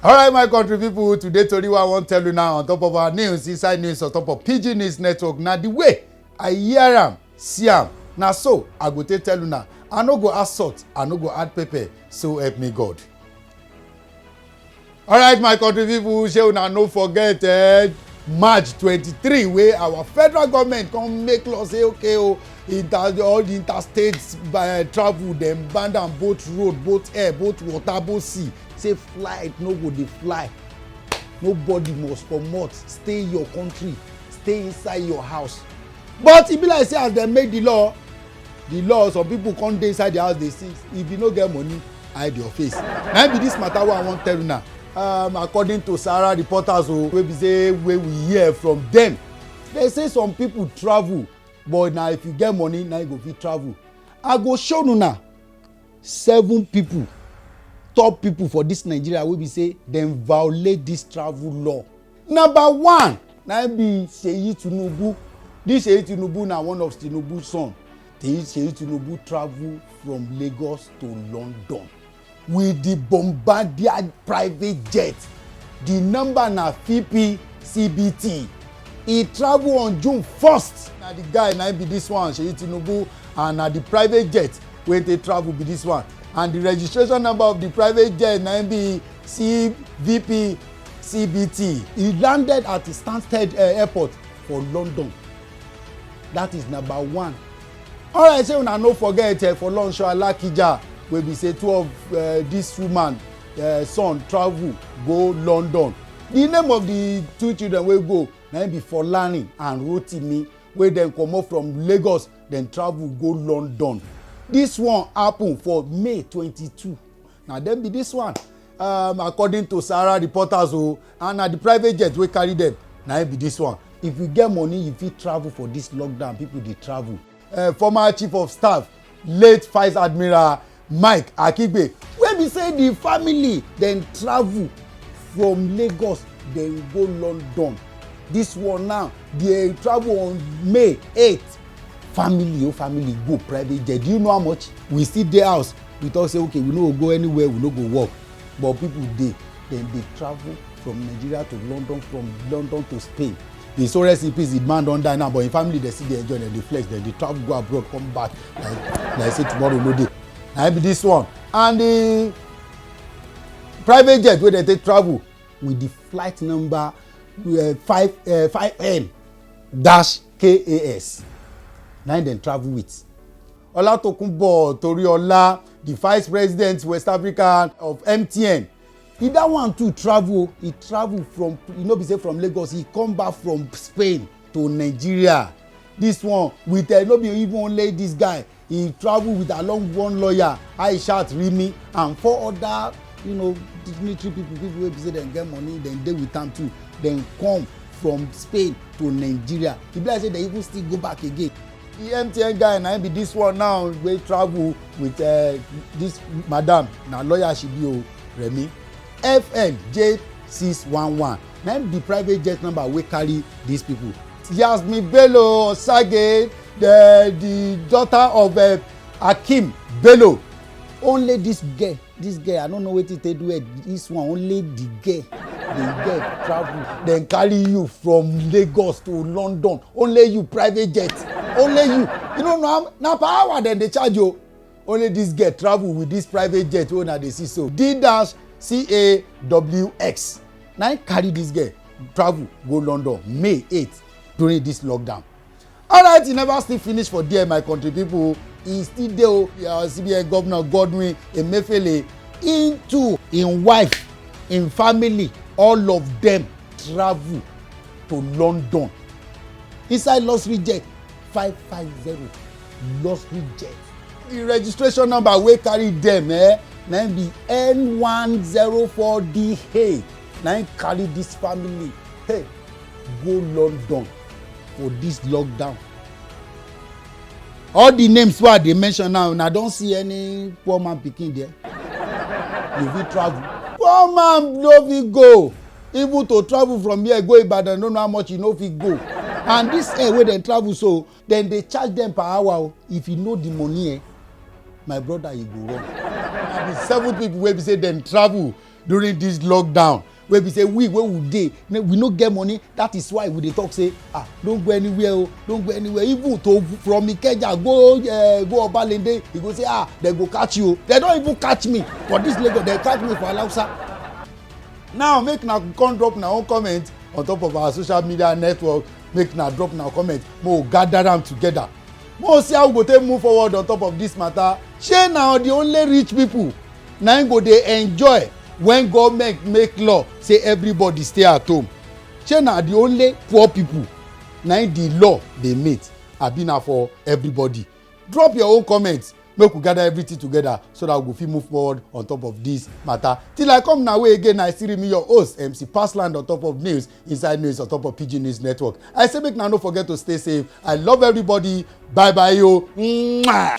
alright my country people, today tori wey i wan tell you now on top of our news inside news on top of pidgin news network na the way i hear am see am na so i go take tell una i no go add salt i no go add pepper so help me god alright my country people, shey una no forget eh, march twenty-three wey our federal government come make law say okay o oh, inter all the interstate uh, travel dem ban am both road both air both water both sea say flight no go dey fly nobody must comot stay your country stay inside your house but e be like say as dem make the law the law some people come dey inside the house dey see if you no get money hide your face na be this matter wey i wan tell una um, according to sahara reporters o oh, wey be say wey we hear from them they say some people travel but na if you get money na you go fit travel i go show una seven people top people for this nigeria wey be say dem violate this travel law number one na be seyi tinubu this seyi tinubu na one of tinubu son seyi tinubu travel from lagos to london with the bombardier private jet the number na fp cbt e travel on june 1st na the guy na be this one seyi tinubu and na the private jet wey take travel be this one and the registration number of the private jet na im be cvp cbt. e landed at stansted uh, airport for london that is number one alright say una no forget uh, for lunch alakija wey be say two of uh, this woman uh, son travel go london the name of the two children wey go na im be folarin and rotimi wey dem comot from lagos dem travel go london this one happen for may twenty-two na dem be this one um, according to sahara reporters o oh, and na the private jet wey carry them. na im be this one if you get money you fit travel for this lockdown people dey travel uh, former chief of staff late vice admiral mike akigbe wey be say di family dem travel from lagos dem go london dis one now dey travel on may 8 family oh family go private jet do you know how much we still dey house we talk say okay we no go go anywhere we no go work but people dey dem dey travel from nigeria to london from london to spain the so rest in peace the man don die now but him family dey still dey enjoy dem dey flex dem dey travel go abroad come back like like say tomorrow no dey na be this one and the private jet wey dey take travel with the flight number uh, five uh, five m dash kas na him dem travel with ọlátòkùnbọ̀ torí ọlá the vice president west africa of mtn e that one too travel e travel from e no be say from lagos e come back from spain to nigeria this one with uh, no be even only this guy he travel with along one lawyer aishat rimi and four other you know dignitary people people wey be say dem get money dem dey with am too dem come from spain to nigeria e be like say dem even still go back again the mtn guy na him be this one now wey travel with uh, this madam na lawyer she be o remi fn j six one one na him be private jet number wey carry these people yasmin bello osage the the daughter of uh, akeem bello only this girl this girl i no know wetin take do her this one only the girl the girl travel dem carry you from lagos to london only you private jet only you you no know na per hour dem dey charge you only this girl travel with this private jet wey una dey see so d dash cawx na im carry this girl travel go london may eight during this lockdown alright e never still finish for there my country people. e still dey o uh, cbn governor godwin emefiele im too im wife im family all of dem travel to london inside luxury jet five five zero luxury jet the registration number wey carry dem eh, na im be n one zero four dh na im carry this family hey go london for this lockdown all the names wey i dey mention now una don see any poor man pikin there you fit travel poor man no fit go even to travel from here go ibadan no know how much you no fit go and this air wey dem travel so dem dey charge dem per hour o if you know the money eh my brother you go run and the seven people wey be say dem travel during this lockdown wey be say we wey we dey we no get money that is why we dey talk say ah don go anywhere o oh, don go anywhere even to from ikeja go uh, go obalende you go say ah dem go catch you o oh. dem don even catch me for this lagos dem catch me for alausa now make na come drop na own comment on top of our social media network make na drop na comment mo gather am together mo see how we go take move forward on top of this matter shey na the only rich people na im go dey enjoy when government make law say everybody stay at home shey na the only poor people na im the law dey meet abi na for everybody drop your own comment make we gather everything together so that we go fit move forward on top of this matter till i come na way again i still remain your host mc passland on top of news inside news on top of pidgin news network i say make una no forget to stay safe i love everybody bye bye yo. Mwah!